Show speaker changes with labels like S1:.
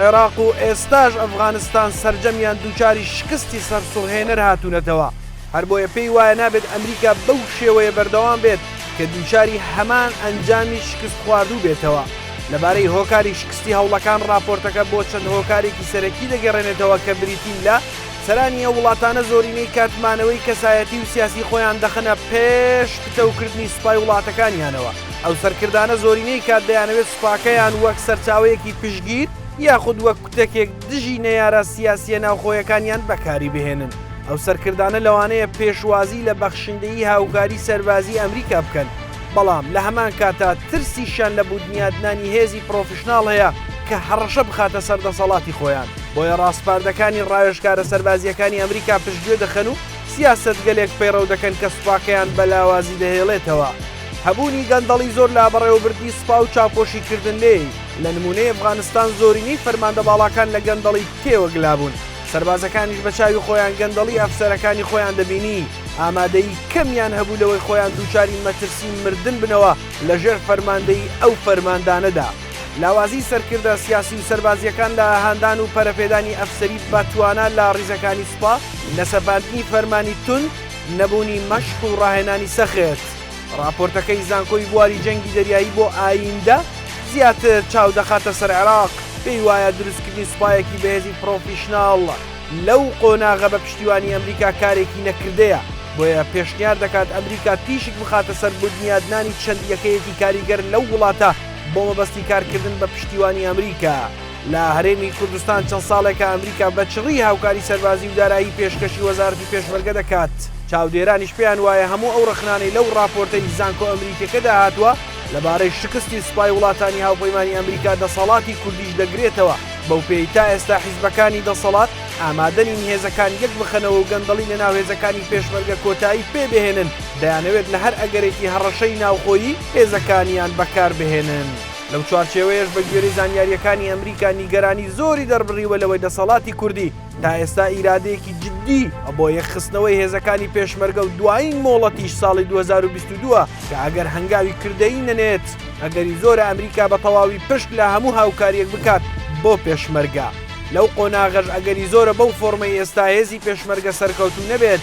S1: عێراق و ئێستاش ئەفغانستان سەرجەمیان دووچاری شکستی سەرسوڕهێنەر هاتوونەتەوە، هەربۆیە پێی وایە نابێت ئەمریکا بەو شێوەیە بەردەوام بێت کە دووچاری هەمان ئەنجامی شکستخواردوو بێتەوە. لەبارەی هۆکاری شکستی هەوڵەکان ڕاپۆرتەکە بۆ چەند هۆکارێکی سەرەکی دەگەڕێنێتەوە کە بریتین لە، سەرانی ئەو وڵاتانە زۆرینەی کات مانەوەی کەسایەتی و سیاسی خۆیان دەخەنە پێش پتەوکردنی سوپای وڵاتەکانیانەوە، ئەو سەرکردانە زۆرینەی کات دەیانەوێت سوپاکەیان وەک سەرچاوەیەکی پشتگیر یاخود وەک کوتەکێک دژی نەیارە سیاسییە ناوخۆیەکانیان بەکاری بهێنن. ئەو سەرکردانە لەوانەیە پێشوازی لە بەخشندەیی هاوکاری سەربازی ئەمریکا بکەن، بەڵام لە هەمان کاتا ترسیشیان لە بودنیادنانی هێزی پرۆفیشناڵ هەیە کە هەڕەشە بخاتە سەر دەسەڵاتی خۆیان. بۆیە ڕاسپاردەکانی ڕاوێژکارە سەربازییەکانی ئەمریکا پشتگوێ دەخەن و سیاسەتگەلێک پەیڕەو دەکەن کە سوپاکەیان بە لاوازی دەهێڵێتەوە. هەبوونی گەندەڵی زۆر لە بەڕێوەبردنی سپا و چاپۆشی کردن لێی، لە نموونەی ئەفغانستان زۆرینەی فەرماندە باڵاکان لە گەندەڵی تێوەگلا بوون، سەربازەکانیش بە چاوی خۆیان گەندەڵی ئەفسەرەکانی خۆیان دەبینی، ئامادەیی کەمیان هەبوو لەوەی خۆیان دووچاری مەترسی مردن بنەوە لە ژێر فەرماندەیی ئەو فەرماندانەدا. لاوازیی سەرکردە سیاسی و سەربازییەکان لە هاندان و پەرەپێدانی ئەفسەری بە توانا لە ڕیزەکانی سپا، لە سەپاندنی فەرمانی توند، نەبوونی مەشق و ڕاهێنانی سەخت. ڕاپۆرتەکەی زانکۆی بواری جەنگی دەریایی بۆ ئاییندە زیاتر چاو دەخاتە سەر عێراق، پێی وایە دروستکردنی سوپایەکی بەهێزی پڕۆفیشناڵ لەو قۆناغە بە پشتیوانی ئەمریکا کارێکی نەکردەیە، بۆیە پێشنیار دەکات ئەمریکا تیشک بخاتە سەر بودنیادنانی چەند یەکەیەکی کاریگەر لەو وڵاتە بۆ مەبەستی کارکردن بە پشتیوانی ئەمریکا. لە هەرێمی کوردستان چەند ساڵێکە ئەمریکا بە چڕی هاوکاری سەربازی و دارایی پێشکەشی وەزارەتی پێشمەرگە دەکات، چاودێرانیش پێیان وایە هەموو ئەو ڕەخنانەی لەو ڕاپۆرتەی زانکۆ ئەمریکیەکەدا هاتووە لەبارەی شکستی سوپای وڵاتانی هاوپەیمانی ئەمریکا دەسەڵاتی کوردیش دەگرێتەوە، بەوپێیەی تا ئێستا حیزبەکانی دەسەڵات ئامادەنین هێزەکان یەکبخەنەوە و گەندەڵی لەناو هێزەکانی پێشمەرگە کۆتایی پێبهێنن، دەیانەوێت لە هەر ئەگەرێکی هەڕەشەی ناوخۆیی هێزەکانیان بەکاربهێنن. لەو چوارچێوەیەش بە گوێرەی زانیارییەکانی ئەمریکا نیگەرانی زۆری دەربڕیوە لەوەی دەسەڵاتی کوردی تا ئێستا ئیرادەیەکی جددی بۆ یەکخستنەوەی هێزەکانی پێشمەرگە و دوایین مۆڵەتیش ساڵی دوو هەزار و بیست و دوو ە کە ئەگەر هەنگاوی کردەیی نەنێت ئەگەری زۆرە ئەمریکا بە تەواوی پشت لە هەموو هاوکارییەک بکات بۆ پێشمەرگە. لەو قۆناغەش ئەگەری زۆرە بەو فۆرمەی ئێستا هێزی پێشمەرگە سەرکەوتوو نەبێت،